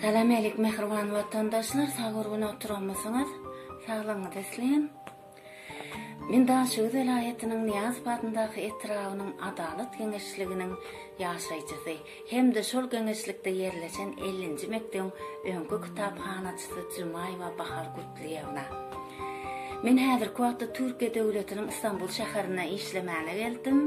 Salam elik mehriban watandaşlar, sag urgun oturamysyňyz, saglygyňyz isleýin. Men Daşowy welaýatynyň Niýazow adyndaky etrabynyň Adalat geňeşliginiň ýaşaýjysy hem-de şol geňeşlikde ýerleşen ellinji mekdebiň öňki kitaphanaçysy Jumaýewa Bahar Gutlyýewna. Men häzirki wagtda Türkiýe döwletiniň Istanbul şäherine işlemäne geldim.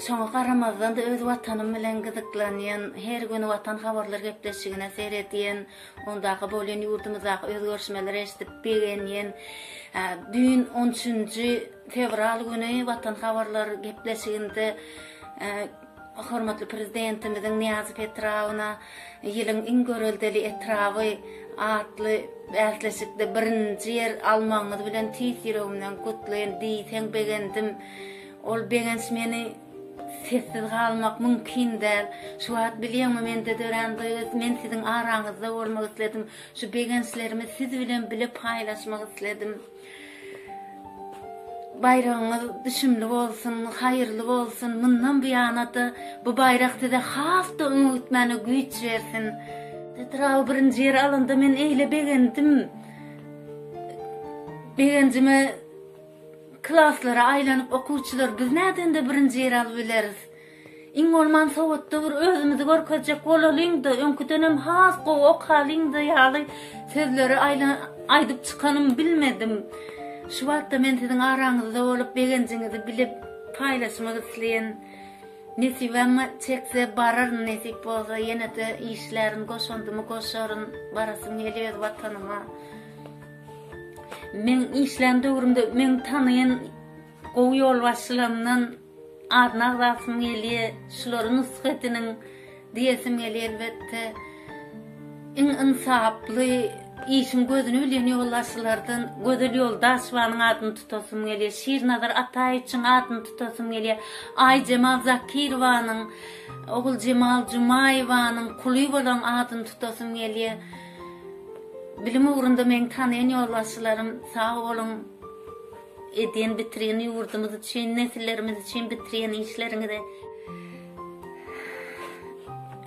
Şoňa garamazdan-da öz Watanym bilen gyzyklanýan, her gün Watan habarlar gepleşigine seredýän, ondaky bolýan ýurdumyzdaky özgerişmeleri eşidip begenýän, düýn on üçünji fewral güni Watan habarlar gepleşiginde hormatly Prezidentimiziň Nyýazow etrabyna Ýylyň iň göreldeli etraby atly bäsleşikde birinji ýer almagyňyz bilen tüýs ýüregimden gutlaýyn diýseň begendim. Ol begenç meni sessiz galmak mümkin däl. Şu wagt bilýäňmi mende dörän duýgy, men siziň araňyzda bolmak isledim. Şu begençlerimi siz bilen bile paýlaşmak isledim. Baýragyňyz düşümli bolsun, haýyrly bolsun, mundan buýana-da bu baýrak size has-da öňe gitmäne güýç bersin. Etraby birinji ýere alanda men eýle begendim. Begenjime Klaslara aýlanyp okuwçylar biz nädende birinji ýeri alybileris? Iň bolman sowatda bir özümizi görkezjek bolalyňda, öňküdenem has gowy okalyňda ýaly sözleri aýdyp çykanym bilmedim. Şu wagtda men siziň araňyzda bolup begenjiňizi bilip paýlaşmak isleýän. Nesibem çekse bararyn nesip bolsa ýenede işlärin goşandymy goşaryn barasym gelýär watanyma. Meň işlän döwrümde meň tanaýan gowy ýolbaşçylarymdan adyny agzasym gelýär, şulary nusga ediniň diýesim gelýär elbetde. Iň ynsaply, işiň gözüni bilýän ýolbaşçylardan Gözel Ýoldaşewanyň adyny tutasym gelýär, Şirnazar Ataýewiçiň adyny tutasym gelýär, Aýjemal Zakirowanyň, Oguljemal Jumaýewanyň kuly bolan adyny tutasym gelýär. Bilim ugrunda meň tanaýan ýolbaşçylarym sag boluň edýän bitirýän ýurdumyz üçin nesillerimiz üçin bitirýän işleriňize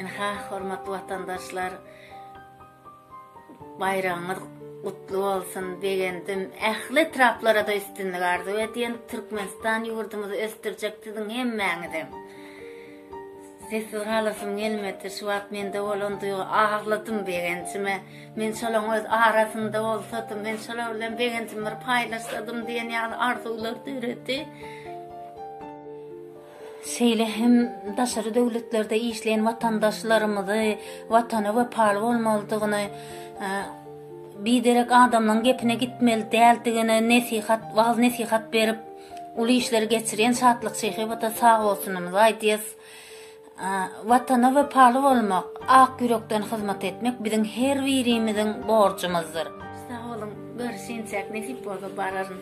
Ynha hormatly watandaşlar baýragyňyz gutly bolsun begendim ähli etraplarada üstünlik arzuw edýän Türkmenistan ýurdumyzy ösdürjek siziň hemmäňizem. Sessiz galasym gelmedi. Şu wagt mende bolan duýgy agladym begenjime. Men şolaň öz arasynda bolsadym, men şolar bilen begenjimi bir paýlaşsadym diýen ýaly arzuwlar döredi. Şeýle hem daşary döwletlerde işleýän watandaşlarymyzy Watana wepaly bolmalydygyny, biderek adamlaryň gepine gitmeli däldigini nesihat, wagyz-nesihat berip, Uly işleri geçirýän Şatlyk Şyhybata sag bolsunymyzy aýdýas. Watana wepaly bolmak, ak ýürekden hyzmat etmek biziň her birimiziň borjumyzdyr. Sag boluň, görüşinçäk, nesip bolsa bararyn.